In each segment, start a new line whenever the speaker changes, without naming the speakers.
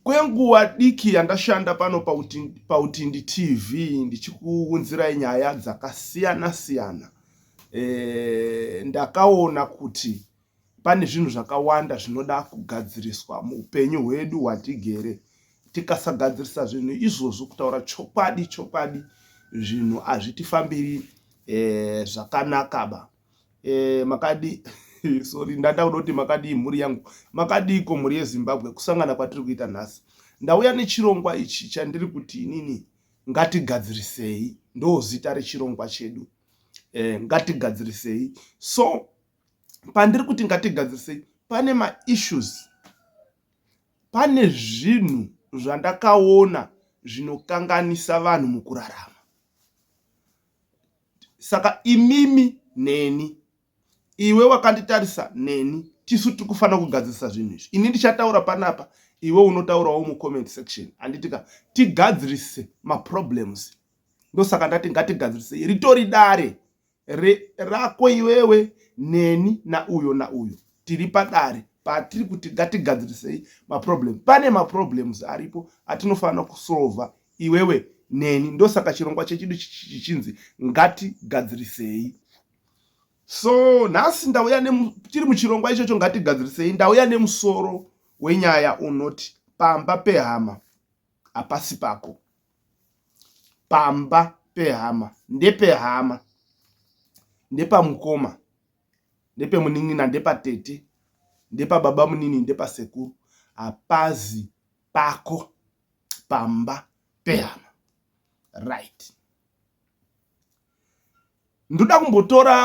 Kwenguva diki yandashanda pano paUtindi TV ndichikuunzirai nyaya dzakasiyana siyana, e, ndakaona kuti pane zvinhu zvakawanda zvinoda kugadziriswa muupenyu hwedu hwatigere. Tikasagadzirisa zvinhu izvozvo, kutaura chokwadi chokwadi, zvinhu hazvitifambiri e, zvakanaka ba. eh, makadi sorry ndada kuda kuti makadii mhuri yangu makadiiko mhuri yezimbabwe kusangana kwatiri kuita nhasi ndauya nechirongwa ichi chandiri kuti inini ngatigadzirisei ndo zita rechirongwa chedu eh, ngatigadzirisei so pandiri kuti ngatigadzirisei pane maissues pane zvinhu zvandakaona zvinokanganisa vanhu mukurarama saka imimi neni iwe wakanditarisa neni tisu tiri kufanira kugadzirisa zvinhu izvi ini ndichataura panapa iwe unotaurawo mucomment section anditika tigadzirise maproblems ndosaka ndati ngatigadzirise ritori dare rako iwewe neni nauyo nauyo tiri padare patiri kuti ngatigadzirisei maproblem pane maproblems aripo atinofanira kusolva iwewe neni ndosaka chirongwa chechidu chichinzi ngatigadzirisei so nhasi ndauya tiri muchirongwa ichocho ngatigadzirisei ndauya nemusoro wenyaya unoti pamba pehama hapasi pako pamba pehama ndepehama ndepamukoma ndepemunin'ina ndepatete ndepababa munini ndepasekuru hapazi pako pamba pehama right ndoda kumbotora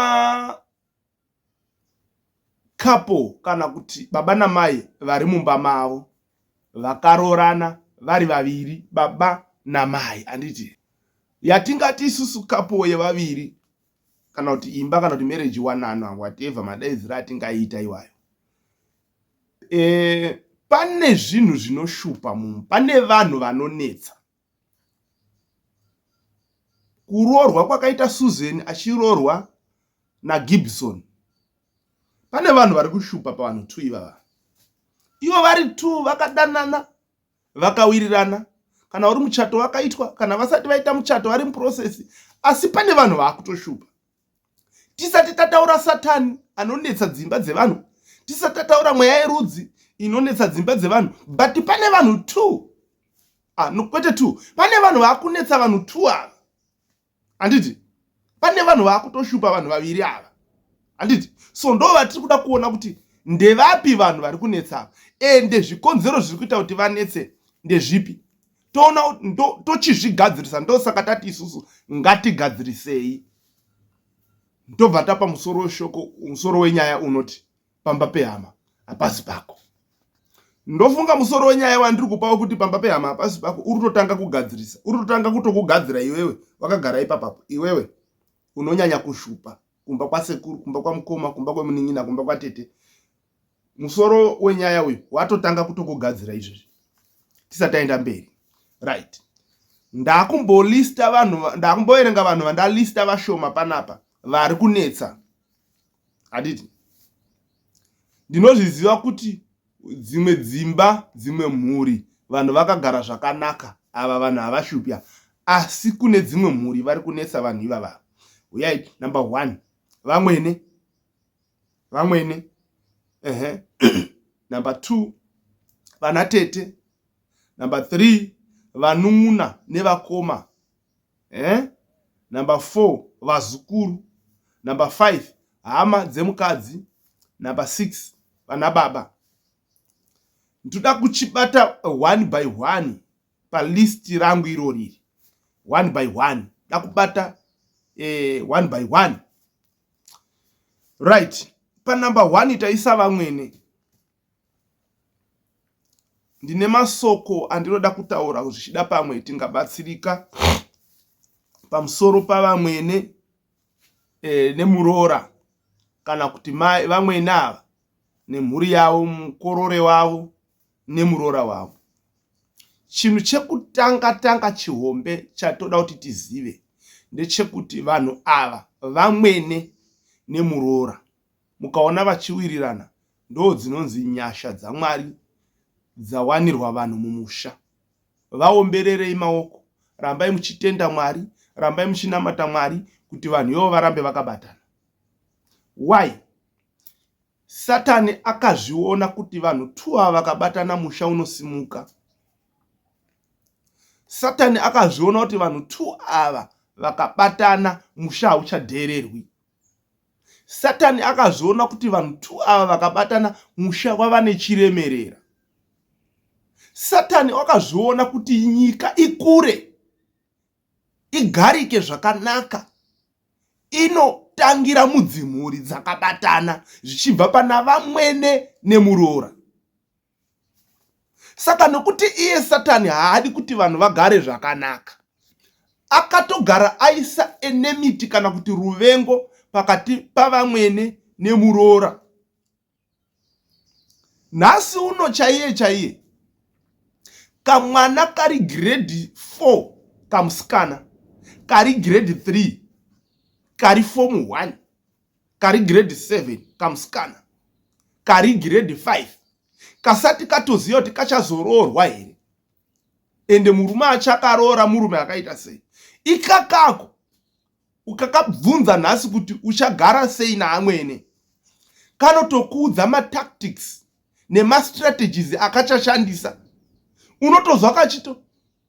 couple kana kuti baba namai vari mumba mavo vakaroorana vari vaviri baba namai anditi yatingati isusu couple yevaviri kana kuti imba kana kuti marriage wanano whatever madaidzira atingaita iwayo Eh, pane zvinhu zvinoshupa mumu pane vanhu vanonetsa kuroorwa kwakaita susan achiroorwa nagibson pane vanhu vari kushupa pavanhu two ivava ivo vari two vakadanana vakawirirana kana uri muchato wakaitwa kana vasati vaita muchato vari muprocess asi pane vanhu vaakutoshupa tisati tataura satani anonetsa dzimba dzevanhu tisati tataura mweya yerudzi inonetsa dzimba dzevanhu but pane vanhu two ah, no, kwete two pane vanhu vakunetsa vanhu two ava handiti pane vanhu vakutoshupa vanhu vaviri ava handiti so ndo vatiri kuda kuona kuti ndevapi vanhu vari kunetsa ava ende zvikonzero zviri kuita kuti vanetse ndezvipi toona tochizvigadzirisa ndosaka tati isusu ngatigadzirisei ndobva tapa musoro weshoko musoro wenyaya unoti pamba pehama hapasi pako ndofunga musoro wenyaya wandiri kupa wekuti pamba pehama hapasi pako uri totanga kugadzirisa uri totanga kutokugadzira iwewe wakagara ipapapo iwewe unonyanya kushupa kumba kwasekuru kumba kwamukoma kumba kwemunin'ina kumba kwatete musoro wenyaya uyu watotanga kutongogadzira izvezvi tisati taenda mberi right ndakumbolista vanhu ndakumboerenga vanhu vandalista vashoma panapa vari kunetsa handiti ndinozviziva kuti dzimwe dzimba dzimwe mhuri vanhu vakagara zvakanaka ava vanhu havashupya asi kune dzimwe mhuri vari kunetsa vanhu ivava uyai number one vamwene vamwene ehe number two vana tete number three vanun'una nevakoma eh? number four vazukuru number five hama dzemukadzi number six vana baba ndoda kuchibata one by one palist rangu iro riri one by one da kubata eh, one by one right panumber one taisa vamwene ndine masoko andinoda kutaura zvichida pamwe tingabatsirika pamusoro pavamwene e, nemuroora kana kuti mai vamwene ava nemhuri yavo mukorore wavo nemuroora wavo chinhu chekutanga tanga chihombe chatoda kuti tizive ndechekuti vanhu ava vamwene nemuroora mukaona vachiwirirana ndo dzinonzi nyasha dzamwari dzawanirwa vanhu mumusha vaombererei maoko rambai muchitenda mwari rambai muchinamata mwari kuti vanhu ivo varambe vakabatana why Satani akazviona kuti vanhu two ava vakabatana musha unosimuka. Satani akazviona kuti vanhu two ava vakabatana musha hauchadheererwi. Satani akazviona kuti vanhu two ava vakabatana musha wava nechiremerera. Satani akazviona kuti nyika ikure. igarike zvakanaka inotangira mudzimhuri dzakabatana zvichibva pana vamwene nemuroora saka nokuti iye satani haadi kuti vanhu vagare zvakanaka akatogara aisa enemiti kana kuti ruvengo pakati pavamwene nemuroora nhasi uno chaiye chaiye kamwana kari grade 4 kamusikana kari grade 3 kari form 1 kari grade 7 kamusikana kari grade 5 kasati katoziva kuti kachazoroorwa here ende murume achakaroora murume akaita sei ikakako ukakabvunza nhasi kuti uchagara sei naamwene kanotokuudza matactics nemastrategies akachashandisa unotozwa kachito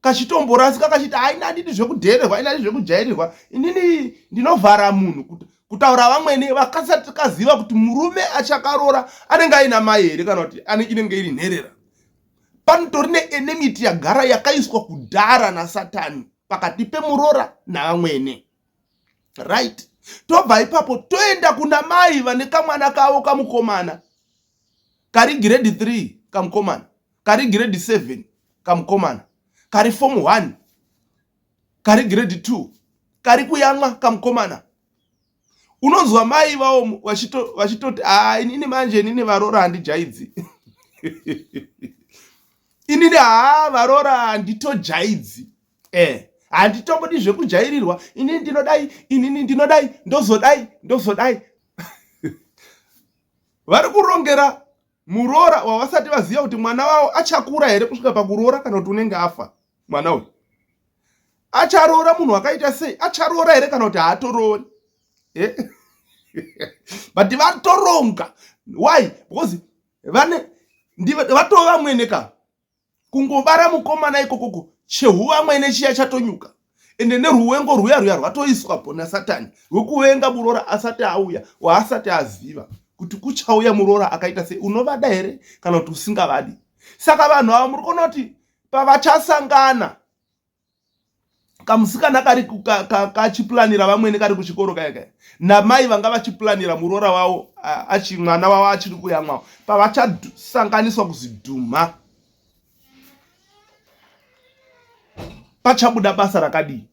kachitomborasika kachiti haina andidi zvekudhererwa haina ndi zvekujairirwa inini ndinovhara munhu kuti kutaura vamwene vakasati kaziva kuti murume achakaroora anenge aina mai here kana kuti inenge iri nherera panotori neenemiti yagara yakaiswa kudhara nasatani pakati pemuroora navamwene right tobva ipapo toenda kuna mai vane kamwana kavo kamukomana kari grade 3 kamukomana kari grade 7 kamukomana kari form 1 kari grade 2 kari kuyamwa kamukomana unonzwa mai vawo vachitoti haa inini manje inini varora handijaidzi inini haa varora handitojaidzi eh handitongodi zvekujairirwa inini ndinodai inini ndinodai ndozodai ndozodai vari kurongera muroora wavasati vaziva kuti mwana wavo achakura here kusvika pakuroora kana kuti unenge afa mwana uyu acharoora munhu wakaita sei acharoora here kana kuti haatoroori eh? but vatoronga why because vane ndivatova mwene ka kungobara mukomana ikokoko chehuva amwene chiya chatonyuka ende neruwengo rwuya rwuya rwatoiswa po nasatani rwekuvenga muroora asati auya waasati aziva kuti kuchauya muroora akaita sei unovada here kana kuti usingavadi saka vanhu ava muri kuona kuti pavachasangana kamusikana kari kachipulanira vamwene kari kuchikoro kaya kaya namai vanga vachipulanira muroora wavo achi mwana wavo achiri kuyamwawo pavachasanganiswa kuzidhumha pachabuda basa rakadii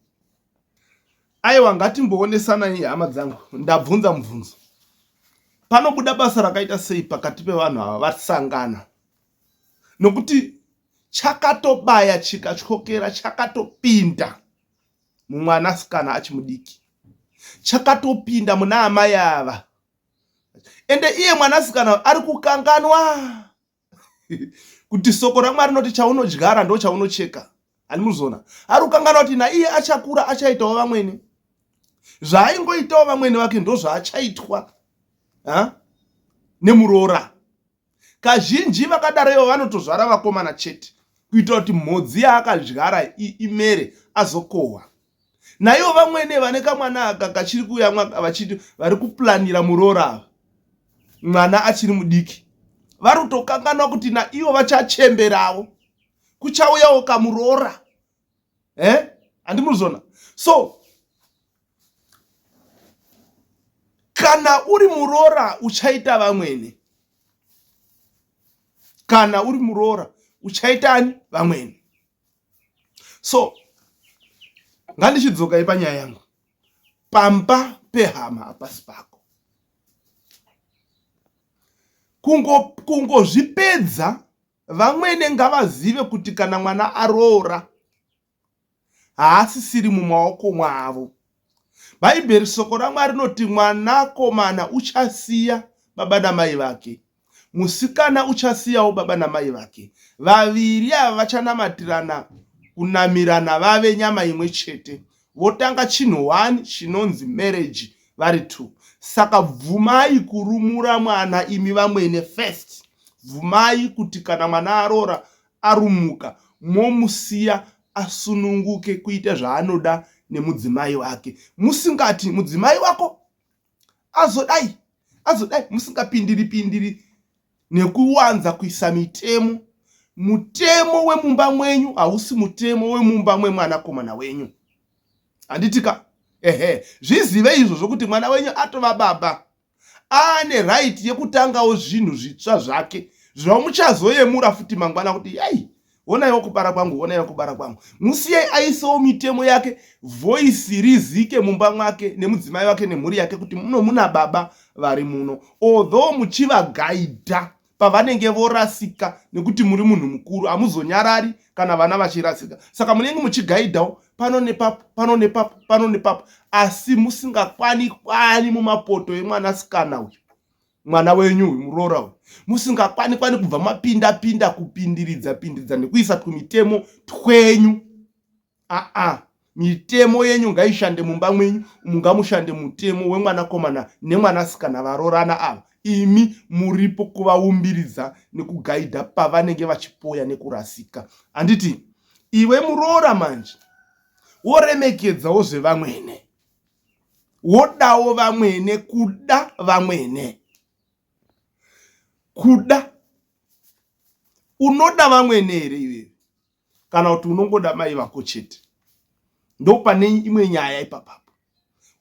aiwa ngatimboonesanai hama dzangu ndabvunza mubvunzo panobuda basa rakaita sei pakati pevanhu ava vasangana nokuti chakatobaya chikatyokera chakatopinda mumwanasikana achimudiki chakatopinda muna amai ava ende iye mwanasikana ari kukanganwa kuti soko ramwari rinoti chaunodyara ndo chaunocheka ani muzona ari kukanganwa kuti naiye achakura achaitawo vamwene zvaaingoitawo vamwene vake ndo zvaachaitwa nemuroora kazhinji vakadaro ivo vanotozvara vakomana chete kuita kuti mhodzi yaakadyara imere azokohwa naivo vamwene vane kamwana aka kachiri kuyamwa vachiti vari kuplanira muroora ava mwana achiri mudiki vari kutokanganwa kuti naivo vachachemberawo kuchauyawo kamuroora eh handi murizona so kana uri muroora uchaita vamwene kana uri muroora uchaitani vamwene so ngandichidzokai panyaya yangu pamba pehama hapasi pako kungozvipedza kungo Vamwene ngavazive kuti kana mwana aroora haasisiri mumaoko mwavo. Bhaibheri soko raMwari rinoti mwanakomana uchasiya baba namai vake, musikana uchasiyawo baba namai vake, vaviri ava vachanamatirana kunamirana vave nyama imwe chete. votanga chinhu one chinonzi marriage vari two saka bvumai kurumura mwana imi vamwene first bvumai kuti kana mwana aroora arumuka momusiya asununguke kuita zvaanoda nemudzimai wake musingati mudzimai wako azodai azodai musingapindiri pindiri nekuwanza kuisa mitemo mutemo wemumba mwenyu hausi mutemo wemumba mwemwanakomana wenyu handitika ehe zvizive izvo zvokuti mwana wenyu atova baba aane right yekutangawo zvinhu zvitsva zvake zvinomuchazoyemura futi mangwana kuti yai onaiwo kubara kwangu onaiwo kubara kwangu musiyai aisawo mitemo yake voisi rizike mumba mwake nemudzimai wake nemhuri yake kuti muno muna baba vari muno although muchivagaidha pavanenge vorasika nekuti muri munhu mukuru hamuzonyarari kana vana vachirasika saka munenge muchigaidhawo pano nepapo pano nepapo pano nepapo asi musingakwani kwani mumapoto emwanasikana uyu mwana wenyu uyu muroora uyu musingakwane kwane kubva mapinda pinda kupindiridza pindiridza nekuisa tumitemo twenyu aa mitemo yenyu ngaishande mumba mwenyu mungamushande mutemo wemwanakomana nemwanasikana varoorana ava imi muripo kuvaumbiridza nekugaidha pavanenge vachipoya nekurasika handiti iwe muroora manje woremekedzawo zvevamwene wodawo vamwene kuda vamwene kuda unoda vamwene here iwewe kana kuti unongoda mai vako chete ndopane imwe nyaya ipapapo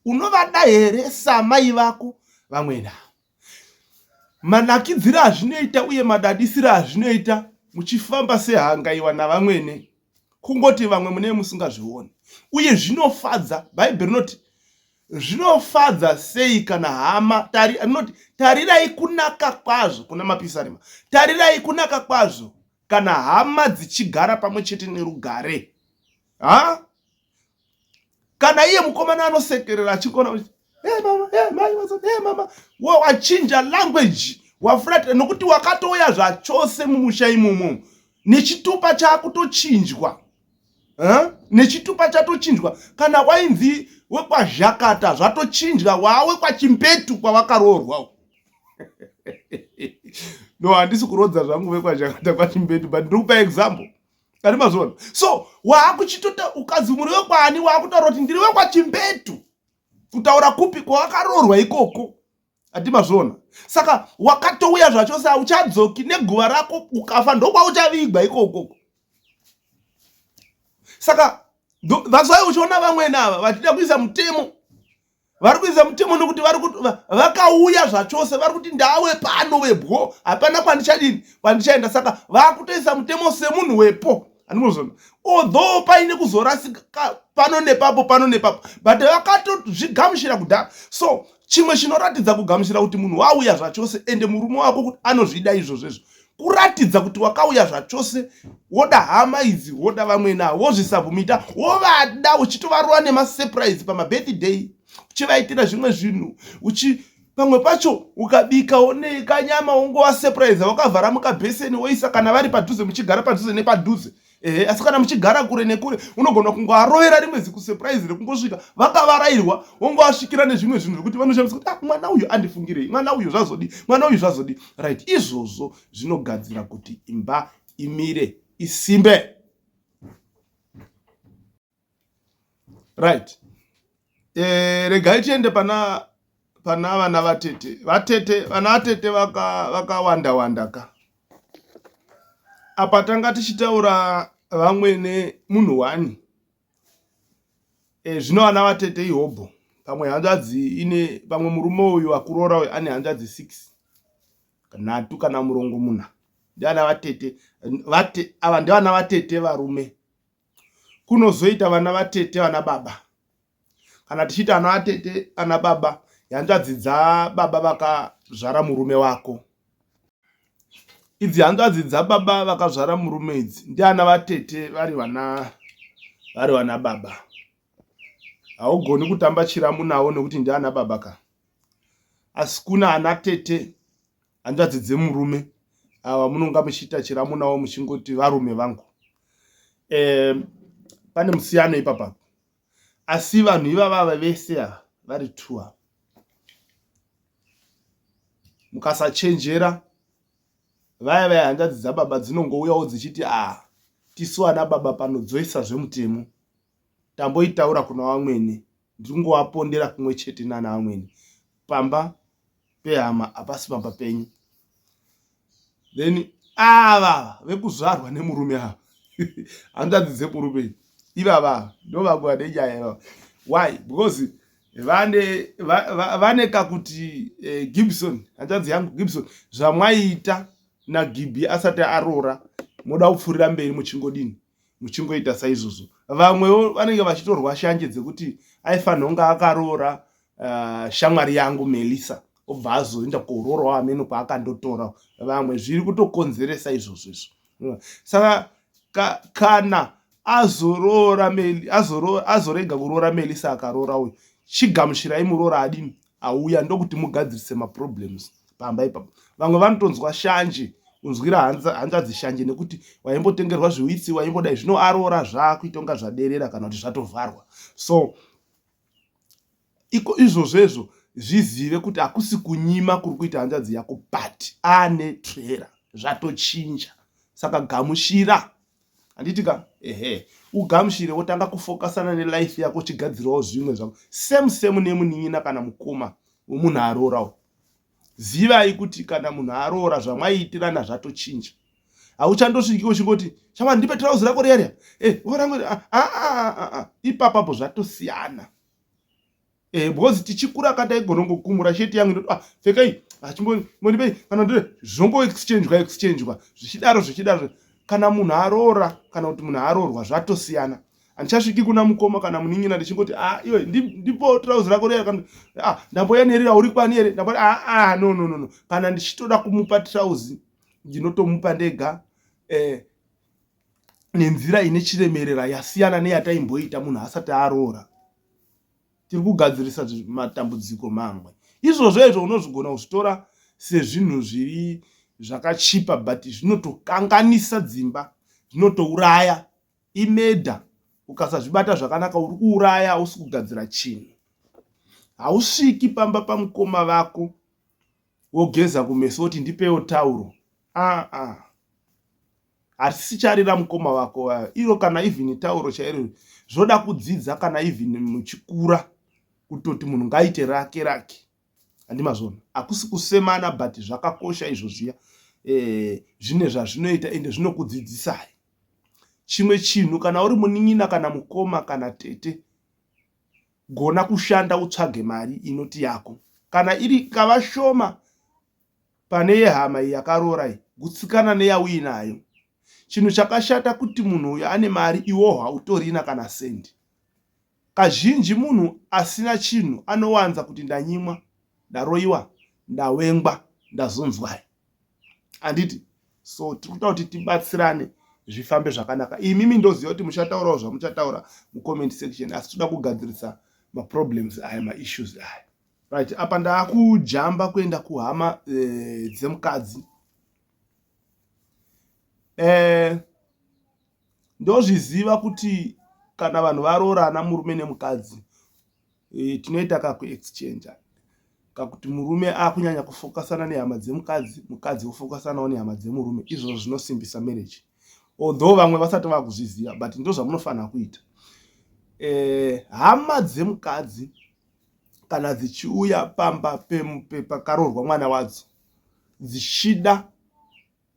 unovada here samai vako vamwene avo manakidzire azvinoita uye madadisire azvinoita muchifamba sehangaiwa navamwene kungoti vamwe mune musingazvioni uye zvinofadza bhaibheri rinoti zvinofadza sei kana hama rinoti tarirai kunaka kwazvo kuna mapisarima tarirai kunaka kwazvo kana hama dzichigara pamwe chete nerugare ha kana iye mukomana anosekerera achikona kuti hey mama hey mai what's up hey mama wo wachinja language wafurata nokuti wakatouya zvachose mumusha imomo nechitupa chakutochinjwa huh? nechitupa chatochinjwa kana wainzi wekwazhakata zvatochinjwa wawe kwachimbetu kwavakaroorwa no handisi kurodza zvangu vekwazhakata kwachimbetu but ndiri kupa example ari mazuva ano so waakuchitota ukanzi muri wekwaani waakutaura kuti ndiri wekwachimbetu kutaura kupi kwawakaroorwa ikoko ati mazvona saka wakatouya zvacho sa uchadzoki neguva rako ukafa ndokwauchavigwa ikokoko saka that's why uchiona vamwene ava vachida kuisa mutemo vari kuisa mutemo nokuti vari kuti vakauya zvachose vari kuti ndawe pano vebwo hapana kwandichadini kwandichaenda saka vakutoisa mutemo semunhu wepo anozona although paine kuzorasika pano nepapo pano nepapo but vakatozvigamushira kudhara so chimwe chinoratidza kugamushira kuti munhu wauya zvachose ende murume wako kuti anozvida izvozvo izvo kuratidza kuti wakauya zvachose woda hama idzi woda vamwene avo wozvisabhumita wovada uchitovarova nemasurprise pamabirthday uchivaitira zvimwe zvinhu uchi pamwe pacho ukabika one kanyama wongovasurprise wakavhara mukabheseni woisa kana vari padhuze muchigara padhuze nepadhuze ehe asi kana muchigara kure nekure unogona kungoarovera rimwe zikusurprise rekungosvika vakavarairwa wongoasvikira nezvimwe zvinhu zvekuti vanoshamisa kuti ah, mwana uyu andifungirei mwana uyu zvazodii mwana uyu zvazodii right izvozvo zvinogadzira kuti imba imire isimbe right eh regai tiende pana pana vana vatete vatete vana vatete vaka vakawanda wanda ka apa tanga tichitaura vamwene munhu wani eh zvino vana vatete ihobho pamwe hanzvadzi ine pamwe murume uyu akurora uyu ane hanzvadzi 6 nhatu kana murongo muna ndiana vatete vate ava ndivana vatete varume kunozoita vana vatete vana baba kana tichiita ana atete ana baba hanzvadzi dzababa vakazvara murume wako idzi hanzvadzi dzababa vakazvara murume idzi ndiana vatete vari vana vari vana baba haugoni kutamba chiramu navo nekuti ndiana baba ka asi kuna ana tete hanzvadzi dzemurume ava munonga muchiita chiramu navo muchingoti varume vangu e, pane musiyano ipapa asi vanhu ivavava vese ava vari two ava mukasachenjera vaya vaya hanzvadzi dzababa dzinongouyawo dzichiti a ah, tisu ana baba pano dzoisa zvemutemo tamboitaura kuna vamwene ndiri kungovapondera kumwe chete nana vamwene pamba pehama hapasi pamba penyu then ava vekuzvarwa nemurume ava hanzvadzi dzekurume ivava ndovamwe vane nyaya ivava why because vane vane kakuti eh, gibson hanzvadzi yangu gibson zvamwaita nagibi asati aroora moda kupfuurira mberi muchingodini muchingoita saizvozvo vamwewo vanenge vachitorwa shanje dzekuti aifanirwa kunge akaroora uh, shamwari yangu melissa obva azoenda koroorawo ameno kwaakandotora vamwe zviri kutokonzeresa izvozvo izvo saka ka, kana azoroora azorega kuroora melissa akaroora uyu chigamuchirai muroora adini auya ndokuti mugadzirise maproblems pamba ipapo vamwe vanotonzwa shanje unzwira hanzvadzi shanje nekuti waimbotengerwa zviwitsi waimbodai zvino aroora zvaakuita kunga zvaderera kana kuti zvatovharwa so iko izvozvezvo zvizive kuti hakusi kunyima kuri kuita hanzvadzi yako but ane trera zvatochinja saka gamushira handiti ka ehe ugamushire wotanga kufokasana nelife yako uchigadzirawo zvimwe zvako same same nemunin'ina kana mukoma wemunhu aroorawo zivai kuti kana munhu aroora zvamwaiitirana zvatochinja hauchandosviki uchingoti chama ndipe trauzi rako riya riya e eh, vorangu ah, ah, ah, ipapapo zvatosiyana eh because tichikura ka taigonongokumura shirt yangu ndoti ah pfekai achimbonipei ah, kana ndiri zvongo exchangwa exchangwa zvichidaro zvichidaro kana munhu aroora kana kuti munhu aroorwa zvatosiyana handichasviki kuna mukoma kana munin'ina ndichingoti a ah, iwe ndipo trouzi rako riya kana a ah, ndamboyanerira uri kwani here ndambo a ah, a no no no no kana ndichitoda kumupa trouzi ndinotomupa ndega eh nenzira ine chiremerera yasiyana neyataimboita munhu asati aroora tiri kugadzirisa matambudziko mamwe izvozvo izvo unozvigona kuzvitora sezvinhu zviri zvakachipa but zvinotokanganisa dzimba zvinotouraya imeda ukasazvibata zvakanaka uri kuuraya hausi kugadzira chinhu hausviki pamba pamukoma vako wogeza kumeso woti ndipewo tauro aa ah, ah. hatisicharira mukoma vako vaya iro kana even tauro chairo zvoda kudzidza kana even muchikura kutoti munhu ngaite rake rake handimazvona hakusi kusemana but zvakakosha izvo zviya eh, zvine zvazvinoita ende zvinokudzidzisai chimwe chinhu kana uri munin'ina kana mukoma kana tete gona kushanda utsvage mari inoti yako kana iri kava shoma pane yehama yakaroora iyi gutsikana neyauinayo chinhu chakashata kuti munhu uyo ane mari iwo hautorina kana sendi kazhinji munhu asina chinhu anowanza kuti ndanyimwa ndaroiwa ndawengwa ndazonzwai handiti so tiri kuta kuti tibatsirane zvifambe zvakanaka imimi ndoziva kuti muchataurawo zvamuchataura mucomment section asi toda kugadzirisa maproblems aya maissues aya right apa ndaakujamba kuenda kuhama eh, dzemukadzi eh, Ndozviziva kuti kana vanhu varoorana murume nemukadzi tinoita kaku exchange kakuti murume akunyanya kufokasana nehama dzemukadzi mukadzi ofokasanawo nehama dzemurume izvozvo zvinosimbisa marriage although vamwe vasati vakuzviziva but ndozvamunofanira kuita eh, hama dzemukadzi kana dzichiuya pamba pakaroorwa mwana wadzo dzichida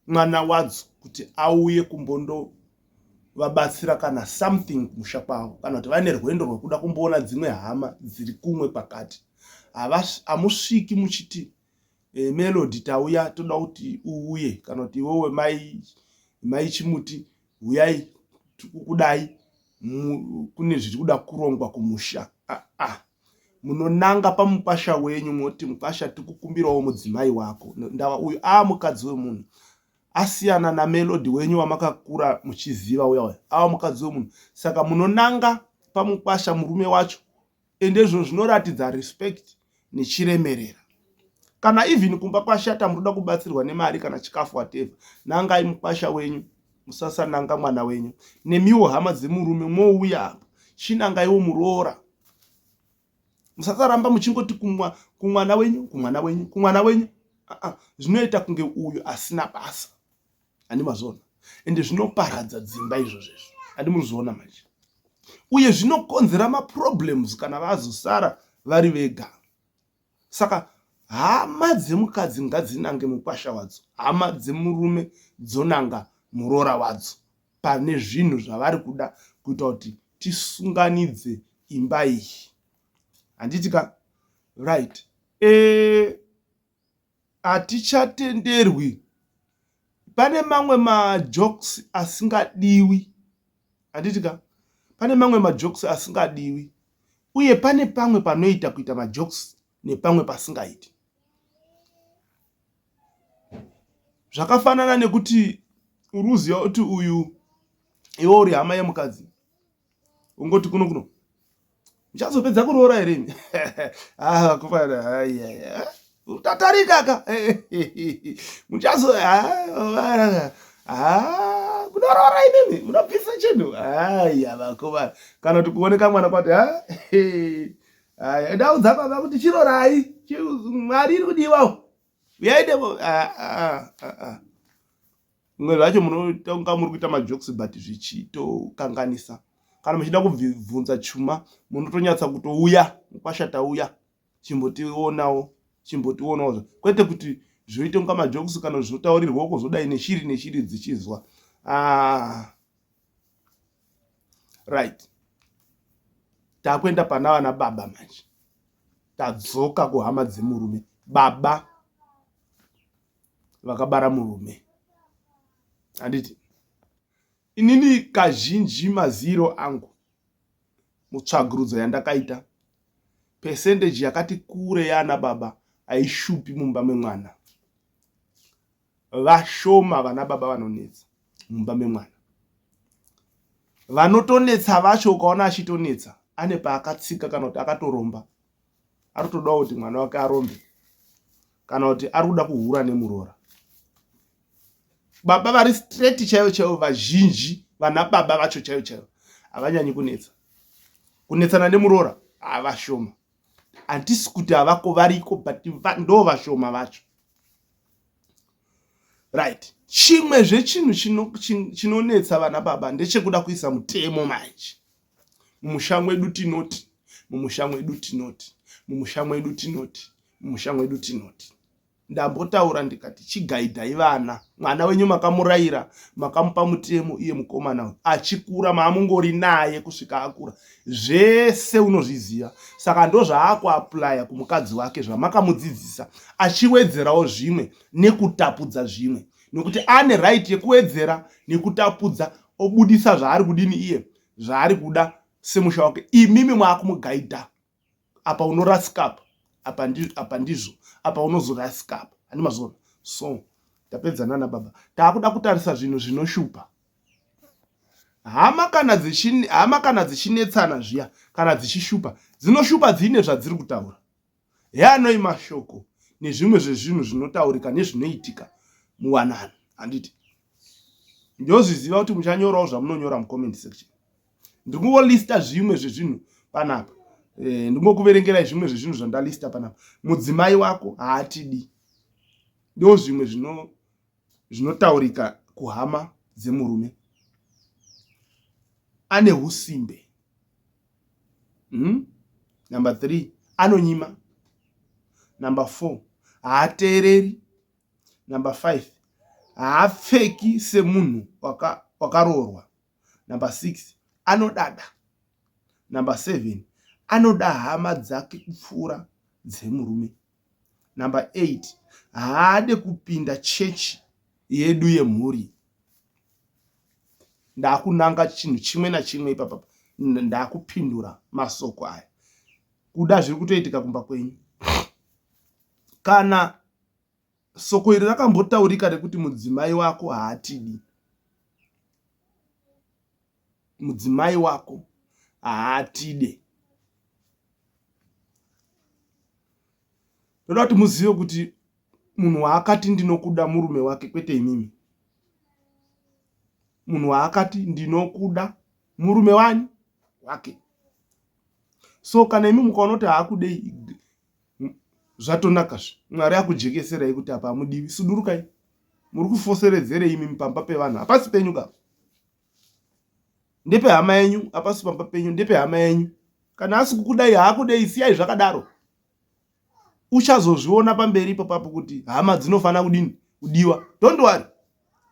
mwana wadzo kuti auye kumbondovabatsira kana something kumusha kwavo kana kuti vaine rwendo rwekuda kumboona dzimwe hama dziri kumwe pakati hamusviki muchiti e, melody tauya toda kuti uuye kana kuti iwewe mai mai chimuti huyai tikukudai kune zviri kuda kurongwa kumusha ah, ah. munonanga pamukwasha wenyu moti mukwasha tikukumbirawo mudzimai wako ndava uyu a ah, mukadzi wemunhu asiyana namelodi wenyu wamakakura muchiziva uya uya ava mukadzi wemunhu saka munonanga pamukwasha murume wacho ende izvo zvinoratidza respect nechiremerera kana even kumba kwashata munoda kubatsirwa nemari kana chikafu whatever nangai mukwasha wenyu musasananga mwana wenyu nemiwo hama dzemurume mwouya apa chinangaiwo muroora musasaramba muchingoti kumwa kumwana wenyu kumwana wenyu kumwana wenyu zvinoita kunge uyu asina basa handi mazoona ende zvinoparadza dzimba izvozvo izvo handi muri zviona manje uye zvinokonzera maproblems kana vazosara vari vega saka hama dzemukadzi ngadzinange mukwasha wadzo hama dzemurume dzonanga muroora wadzo pane zvinhu zvavari kuda kuita kuti tisunganidze imba iyi handiti ka right e Hatichatenderwi pane mamwe majokes asingadiwi handiti ka pane mamwe majokes asingadiwi uye pane pamwe panoita kuita majokes nepamwe pasingaiti zvakafanana nekuti uruziva kuti uyu iwe uri hama yemukadzi ungoti kuno kuno uchazopedza kuroora here imi ah, utatarika ka muchazo ah, ah, munoroora imimi munobvisa chinhu aya vakomana kana kuti kuoneka mwana kwati aya ndaudza baba kuti chirorai mwari iri kudiwawo uyaidemo Mwe zvacho munotonga muri kuita majokes but zvichitokanganisa. Kana muchida kubvunza chuma munotonyatsa kutouya mukwashata uya chimbotionawo chimbotionawo zva kwete kuti zvoite kunga majokes kana zvotaurirwa uko zvodai neshiri neshiri dzichizwa ah. right takuenda pana vana baba manje tadzoka kuhama dzemurume baba vakabara murume handiti inini kazhinji maziro angu mutsvagurudzo yandakaita pesendeji yakati kure yaana baba haishupi mumba memwana vashoma vana baba vanonetsa mumba memwana vanotonetsa vacho ukaona achitonetsa ane paakatsika kana kuti akatoromba ari kutodawo kuti mwana wake arombe kana kuti ari kuda kuhura nemuroora baba vari straight chaivo chaivo vazhinji vana baba vacho chaivo chaivo havanyanyi kunetsa kunetsana nemuroora havashoma handisi kuti havako variko but ndo vashoma vacho right chimwezve chinhu chinonetsa vana baba ndechekuda kuisa mutemo manje mumusha mwedu tinoti mumusha mwedu tinoti mumusha mwedu tinoti mumusha mwedu tinoti ndambotaura ndikati chigaidhai vana mwana wenyu makamurayira makamupa mutemo iye mukomana uyu achikura maamungori naye kusvika akura zvese unozviziva saka ndozvaakuaplya kumukadzi wake zvamakamudzidzisa achiwedzerawo zvimwe nekutapudza zvimwe nekuti ane right yekuwedzera nekutapudza obudisa zvaari kudini iye zvaari kuda semusha wake imimi mwakumugaidha apa unorasika apa apa ndizvo apa ndizvo apa unozorasika apa handi mazona so tapedza nana baba taakuda kutarisa zvinhu zvinoshupa hama kana dzichin hama kana dzichinetsana zviya kana dzichishupa dzinoshupa dziine zvadziri kutaura heanoi mashoko nezvimwe zvezvinhu zvinotaurika nezvinoitika muwanano handiti ndozviziva kuti muchanyorawo zvamunonyora mucomment section ndiri kungolista zvimwe zvezvinhu panapa e, eh, ndingokuverengerai zvimwe zvezvinhu zvandalista panapa mudzimai wako haatidi ndo zvimwe zvinotaurika kuhama dzemurume ane usimbe hmm? number three anonyima number four haateereri number five haapfeki semunhu wakaroorwa waka number six anodada number seven anoda hama dzake kupfuura dzemurume number eight haade kupinda church yedu yemhuri ndakunanga chinhu chimwe nachimwe ipapa ndakupindura masoko aya kuda zviri kutoitika kumba kwenyu kana soko iri rakambotaurika rekuti mudzimai wako haatidi mudzimai wako haatide ndoda kuti muzive kuti munhu waakati ndinokuda murume wake kwete imimi munhu waakati ndinokuda murume wani wake so kana imi mukaona kuti haakudei zvatonaka zve mwari akujekeserai kuti apa hamudivi sudurukai muri kufoseredzerei imimi pamba pevanhu hapasi penyu kapa ndepe hama yenyu apasi pamba penyu ndepe hama yenyu kana asi kukudai haakudei siyai zvakadaro uchazozviona pamberi ipapapo kuti hama dzinofanira kudini kudiwa don't worry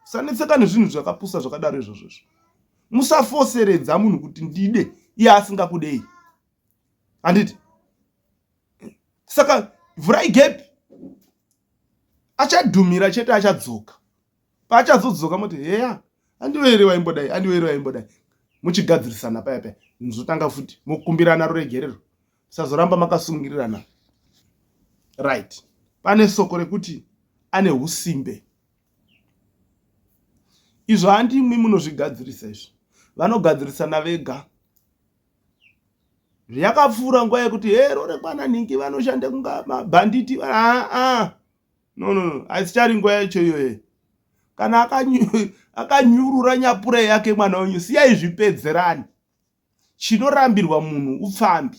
sanetseka nezvinhu zvakapusa zvakadaro izvozvo izvo musafoseredza munhu kuti ndide iye asingakudei handiti saka vhurai gepi achadhumira chete achadzoka paachazodzoka moti heya andiwe here waimbodai andiwe here waimbodai muchigadzirisana paya paya muzotanga futi mokumbirana ruregerero musazoramba makasungirirana right pane soko rekuti ane usimbe izvo handimwi munozvigadzirisa izvi vanogadzirisana vega zviyakapfuura nguva yekuti hero rekwana nhingi vanoshanda kunga mabhanditi aa ah, ah. no no no haizichari nguva yacho iyoye kana akanyurura nyapura yake mwana wenyu siyai zvipedzerani chinorambirwa munhu upfambi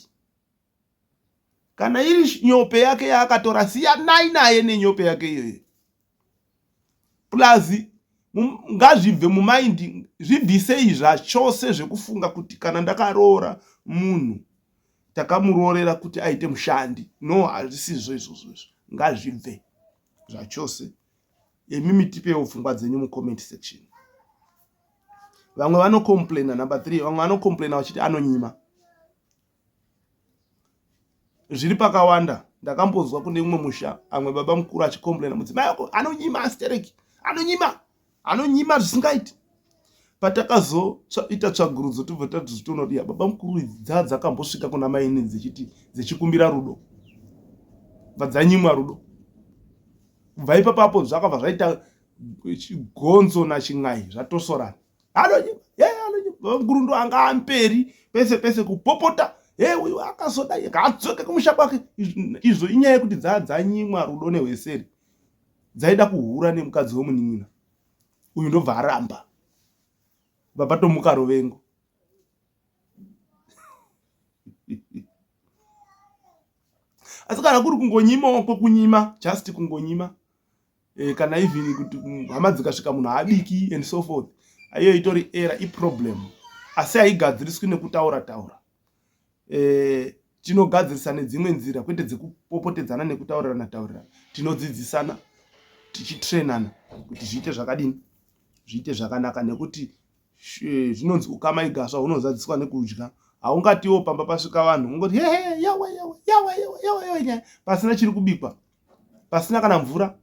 kana iri nyope yake yaakatora siyanai naye nenyope yake iyoye plus ngazvibve mumaindi zvibvisei zvachose zvekufunga kuti kana ndakaroora munhu takamuroorera kuti aite mushandi no hazvisizvo izvozvo izvo ngazvibve zvachose imi mitipewo pfungwa dzenyu mucomment section vamwe vanocomplaina number three vamwe vanocomplaina vachiti anonyima zviri pakawanda ndakambonzwa kune umwe musha amwe baba mukuru achicomplaina mudzimai ako anonyima astereki anonyima anonyima zvisingaiti patakazoita tsvagurudzo tobva tatozvitoona kuti baba mukuru idzi dzaa dzakambosvika kuna maini dzechiti dzechikumbira rudo bva dzanyimwa rudo kubva ipapapo zvakabva zvaita gonzo nachin'ai zvatosorana anonyima ye anonyima baba mukuru ndo anga amperi pese pese kupopota he uyu akazoda akadzoke kumusha kwake izvo inyaya yekuti dzaa dzanyimwa rudo nehweseri dzaida kuhura nemukadzi wemunin'ina uyu ndobva aramba bva patomuka rovengo asi kana kuri kungonyima kwekunyima just kungonyima e, kana even kuti hama dzikasvika munhu haabiki and so forth aiyo itori era iproblem asi haigadziriswi nekutaura taura e, tinogadzirisa nedzimwe nzira kwete dzekupopotedzana nekutaurirana taurirana tinodzidzisana tichitrenana kuti zviite zvakadini zviite zvakanaka nekuti eh, zvinonzi ukama igaswa unozadziswa nekudya haungatiwo pamba pasvika vanhu ungoti hehe yawa yawa yawa yawa yawa yawa nyaya pasina chiri kubikwa pasina kana mvura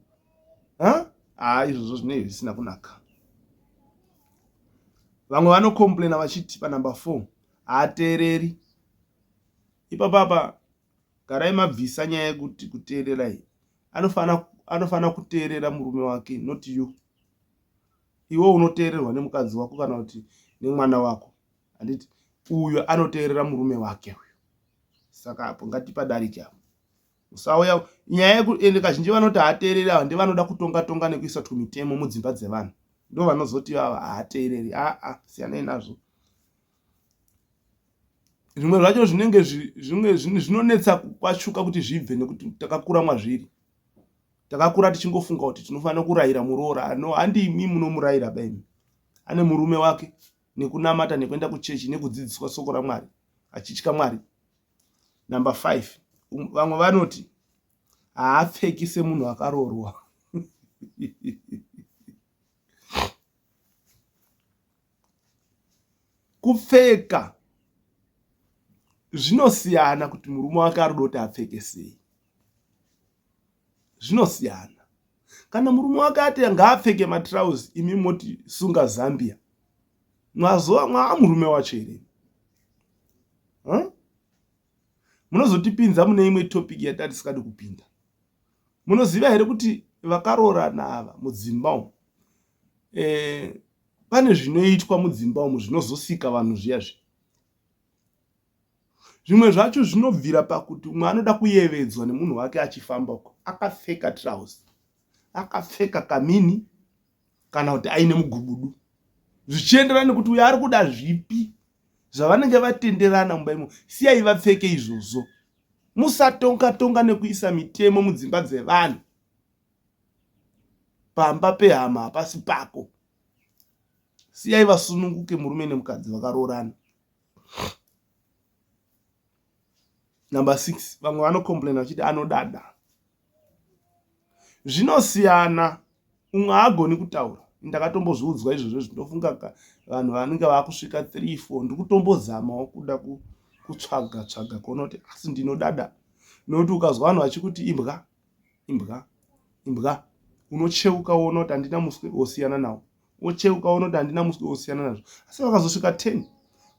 ha ah, izvozvo zvine zvisina kunaka vamwe vanocomplaina vachiti panumber four haateereri ipapa apa garai mabvisa nyaya yekuti kuteerera iyi anofanira anofanira kuteerera murume wake not you iwe unoteererwa nemukadzi wako kana kuti nemwana wako handiti uyo anoteerera murume wake uyo saka apo ngatipadarike apo usauya nyaya yekuende kazhinji vanoti haateereri ava ndevanoda kutonga tonga nekuisa tumitemo mudzimba dzevanhu ndo vanozoti vava haateereri aa siyanei nazvo zvimwe zvacho zvinenge zvimwe zvinonetsa kwashuka kuti zvibve nekuti takakura mwazviri takakura tichingofunga kuti tinofanira kurayira muroora no handimi munomurayira baimi ane murume wake nekunamata nekuenda kuchechi nekudzidziswa soko ramwari achitya mwari number five um, vamwe vanoti haapfeki semunhu akaroorwa kupfeka zvinosiyana kuti murume wake arikuda kuti apfeke sei zvinosiyana kana murume wake ati ngaapfeke matrouse imi moti sunga zambia mwazoa mwaamurume wacho here munozotipinza mune imwe topic yatati sikadi kupinda munoziva here kuti vakaroorana ava mudzimba umu eh, pane zvinoitwa mudzimba umu zvinozosika vanhu zviya zvi zvimwe zvacho zvinobvira pakuti umwe anoda kuyevedzwa nemunhu wake achifamba uko akapfeka trouse akapfeka kamini kana kuti aine mugubudu zvichienderana nekuti uyo ari kuda zvipi zvavanenge vatenderana mumba imo siyai vapfeke izvozvo musatonga tonga nekuisa mitemo mudzimba dzevanhu pamba pehama hapasi pako siyai vasununguke murume nemukadzi vakaroorana number six vamwe vanocomplaina vachiti anodada zvinosiyana umwe haagoni kutaura ndakatombozviudzwa izvozvo zvinofunga ka vanhu vanenge vakusvika three four ndiri kutombozamawo kuda kutsvaga tsvaga kuona kuti asi ndinodada nokuti ukazwa vanhu vachikuti imbwa imbwa imbwa unocheuka woona kuti handina muswe wosiyana nawo wocheuka unoti handina muswe wosiyana nazvo asi vakazosvika ten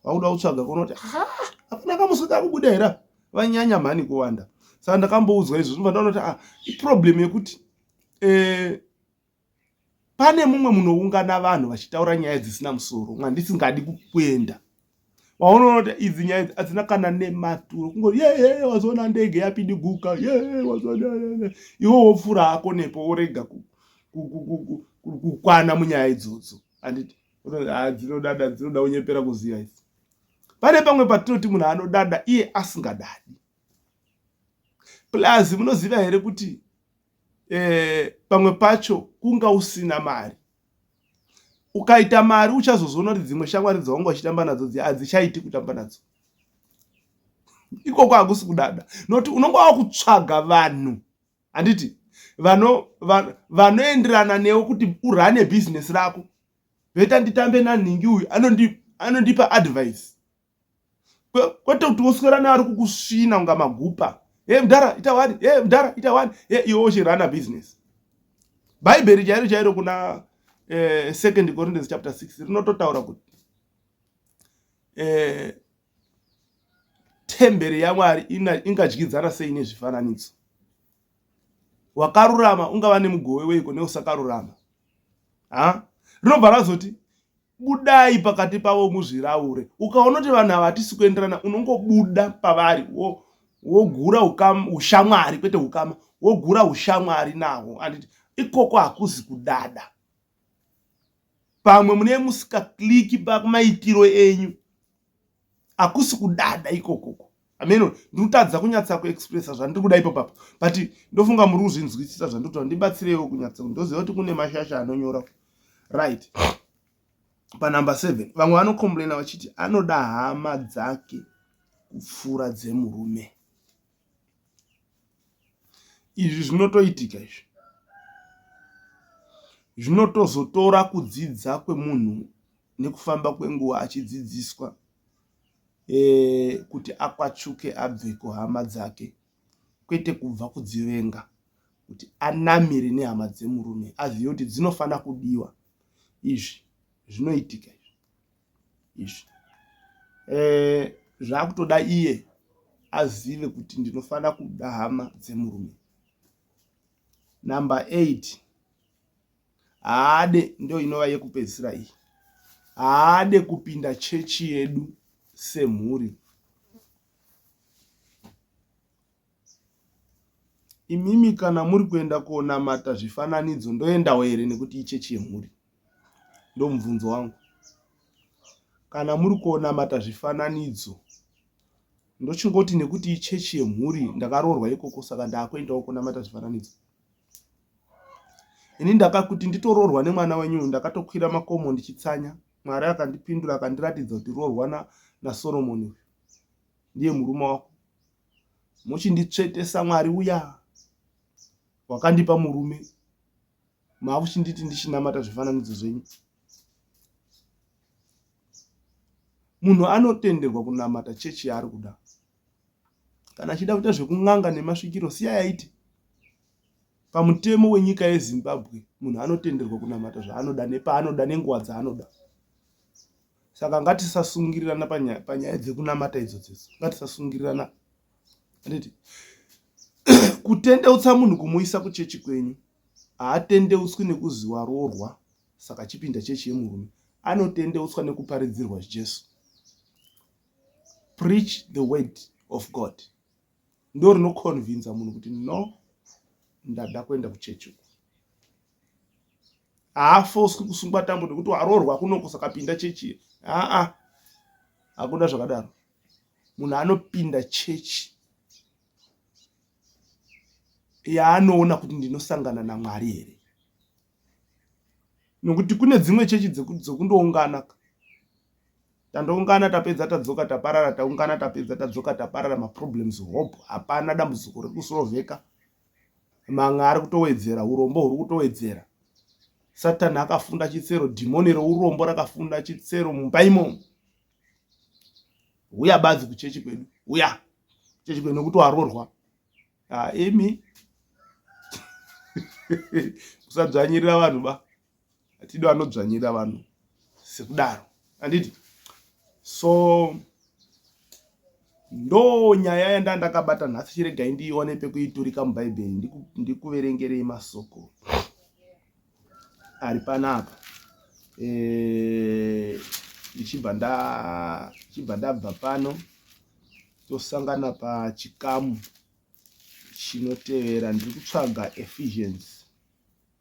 vakuda kutsvaga kunoti hapana kamuswe kakubuda here vanyanya mhani kuwanda saka ndakamboudzwa izvo zvinobva ndaona kuti ah, iproblem yekuti eh, pane mumwe munoungana vanhu vachitaura nyaya dzisina musoro mwandisingadi kuenda waunoona idzi nyaya idzi adzina kana nematuro kungoti yeye wazoona ndege yapindi guka yeye wazoona iwe wopfuura hako nepo worega kukwana munyaya idzodzo anditi ah, dzinodada dzinoda unyepera kuziva idzi pane pamwe patinoti munhu anodada iye asingadadi plus munoziva here kuti eh, pamwe pacho kunga usina mari ukaita mari uchazozoona kuti dzimwe shamwari dzawanga uchitamba nadzo dzi hadzichaiti kutamba nadzo ikoko hakusi kudada nokuti unonga wakutsvaga vanhu handiti vanoenderana van, newe kuti urane bhizinesi rako veta nditambe nanhingi uyu anondipa advice kwete kuti woswera neari kukusvina kunga magupa e mdara ita wani e mdara ita wani e iwe uchirana business bhaibheri chairo chairo kuna eh, second corinthians chapter 6 rinototaura kuti eh, temberi yamwari ingadyidzana sei nezvifananidzo wakarurama ungava nemugove weiko neusakarurama ha rinobva razoti Budai pakati pavo muzviraure. Ukaona kuti vanhu ava hatisi kuenderana, unongobuda pavari wo wogura ushamwari kwete ukama wogura ushamwari nawo anditi ikoko hakuzi kudada pamwe mune musikakliki pamaitiro enyu akusi kudada ikoko uko ameno ndiri kutadza kunyatsa kuexpressa zvandiri kuda ipo papa but ndofunga muri kuzvinzwisisa zvandiri kutaura ndibatsireiwo kunyatsa ndoziva kuti kune mashasha anonyora right panumber seven vamwe vanocomplaina vachiti anoda hama dzake kupfuura dzemurume Izvi zvinotoitika izvi. Zvinotozotora kudzidza kwemunhu nekufamba kwenguva achidzidziswa eh, kuti akwachuke abve kuhama dzake kwete kubva kudzivenga kuti anamire nehama dzemurume azive kuti dzinofanira kudiwa izvi zvinoitika izvi eh, zvakutoda iye azive kuti ndinofanira kuda hama dzemurume number eight haade ndo inova yekupedzisira iyi haade kupinda chechi yedu semhuri Imimi kana muri kuenda konamata zvifananidzo ndoendawo here nekuti ichechi yemhuri? Ndomubvunzo wangu. Kana muri konamata zvifananidzo ndochingoti nekuti ichechi yemhuri ndakaroorwa ikoko saka ndakuendawo konamata zvifananidzo. Ini ndakakuti nditoroorwa nemwana wenyu ndakatokwira makomo ndichitsanya. Mwari akandipindura akandiratidza kuti roorwa naSoromoni uyu. Ndiye murume wako. muchinditsvetesa mwari uya wakandipa murume makuchinditi ndichinamata zvifananidzo zvenyu munhu anotenderwa kunamata chechi yaari kuda kana achida kuita zvekun'anga nemasvikiro siya yaiti pamutemo wenyika yezimbabwe munhu anotenderwa kunamata zvaanoda nepaanoda nenguva dzaanoda saka ngatisasungirirana panyaya dzekunamata idzodzo idzo ngatisasungirirana anditi kutendeutsa munhu kumuisa kuchechi kwenyu haatendeutswi nekuzi waroorwa saka chipinda chechi yemurume anotendeutswa nekuparidzirwa jesu preach the word of god ndo rinoconvinza munhu kuti no ndada kuenda kuchechi uku haafoswi kusungwa tambo nekuti waroorwa kunoko saka pinda chechi ye aa hakuna zvakadaro munhu anopinda chechi yaanoona kuti ndinosangana namwari here nokuti kune dzimwe chechi dzokundoungana dzeku tandoungana tapedza tadzoka taparara taungana tapedza tadzoka taparara maproblems hope hapana dambudziko rekusorovheka manga ari kutowedzera urombo huri kutowedzera satani akafunda chitsero dhimoni reurombo rakafunda chitsero mumba imomo uya badzi kuchechi kwedu uya chechi kwedu nekuti warorwa ah, imi kusadzvanyirira vanhu ba hatidi vanodzvanyira vanhu sekudaro handiti so ndo nyaya yanda ndakabata nhasi chiregai ndiione pekuiturika mubhaibheri ndikuverengerei masoko ari panapa eh, ndichibva ndichibva ndabva pano tosangana pachikamu chinotevera ndiri kutsvaga ephesians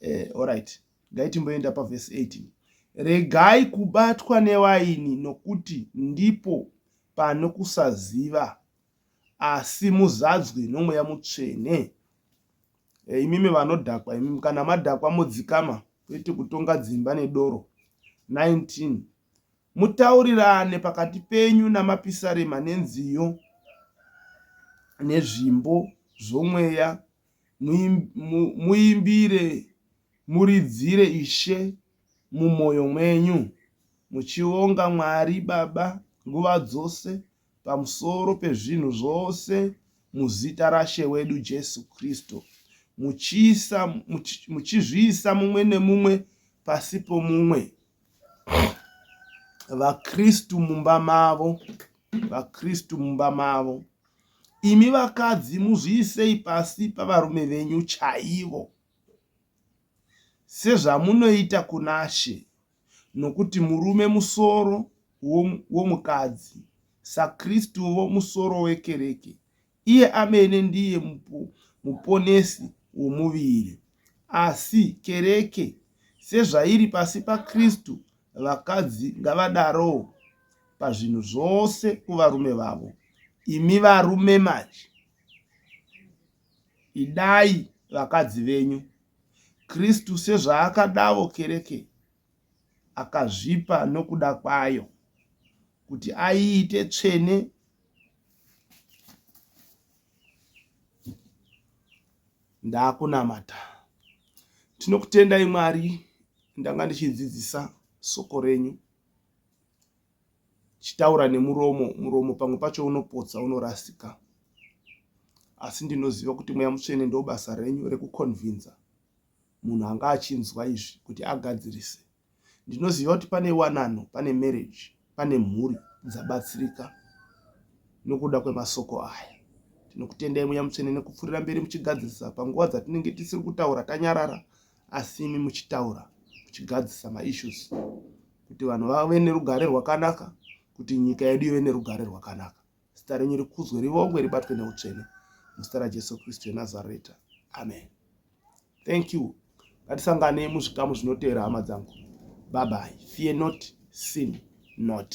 eh, orit ngaitimboenda pavhesi 18 regai kubatwa newaini nokuti ndipo pano kusaziva asi muzadzwe nomweya mutsvene eh, imimi vanodhakwa imimi kana madhakwa modzikama kwete kutonga dzimba nedoro 19 mutaurirane pakati penyu namapisarema nenziyo nezvimbo zvomweya Muimbire, muridzire Ishe mumwoyo mwenyu, muchionga Mwari Baba nguva dzose pamusoro pezvinhu zvose muzita raShe wedu Jesu Kristu, muchizviisa mumwe nemumwe pasi pomumwe. vakristu mumba mavo vakristu mumba mavo imi vakadzi muzviisei pasi pavarume venyu chaivo sezvamunoita kunashe nokuti murume musoro womukadzi sakristuvo musoro wekereke Iye amene ndiye muponesi womuviri. Asi kereke, sezvairi pasi paKristu, vakadzi ngavadarowo pazvinhu zvose kuvarume vavo. Imi varume manje, idai vakadzi venyu, Kristu sezvaakadavo kereke, akazvipa nokuda kwayo kuti aiite tsvene ndakunamata tinokutendai mwari ndanga ndichidzidzisa soko renyu chitaura nemuromo muromo pamwe pacho unopotsa unorasika asi ndinoziva kuti mweya mutsvene ndobasa renyu rekukonvinza munhu anga achinzwa izvi kuti agadzirise. Ndinoziva kuti pane wanano, pane marriage, pane mhuri dzabatsirika nokuda kwemasoko aya. Tinokutendai Mweya Mutsvene nekupfurira mberi muchigadzirisa panguva dzatinenge tisiri kutaura tanyarara asi imi muchitaura muchigadzirisa maissues kuti vanhu vave nerugare rwakanaka kuti nyika yedu ive nerugare rwakanaka. zita renyu rikudzwe rivongwe ribatwe neutsvene muzita rajesu kristu yenazareta amen thank you ngatisangane muzvikamu zvinoteera hama dzangu babai fear not sin not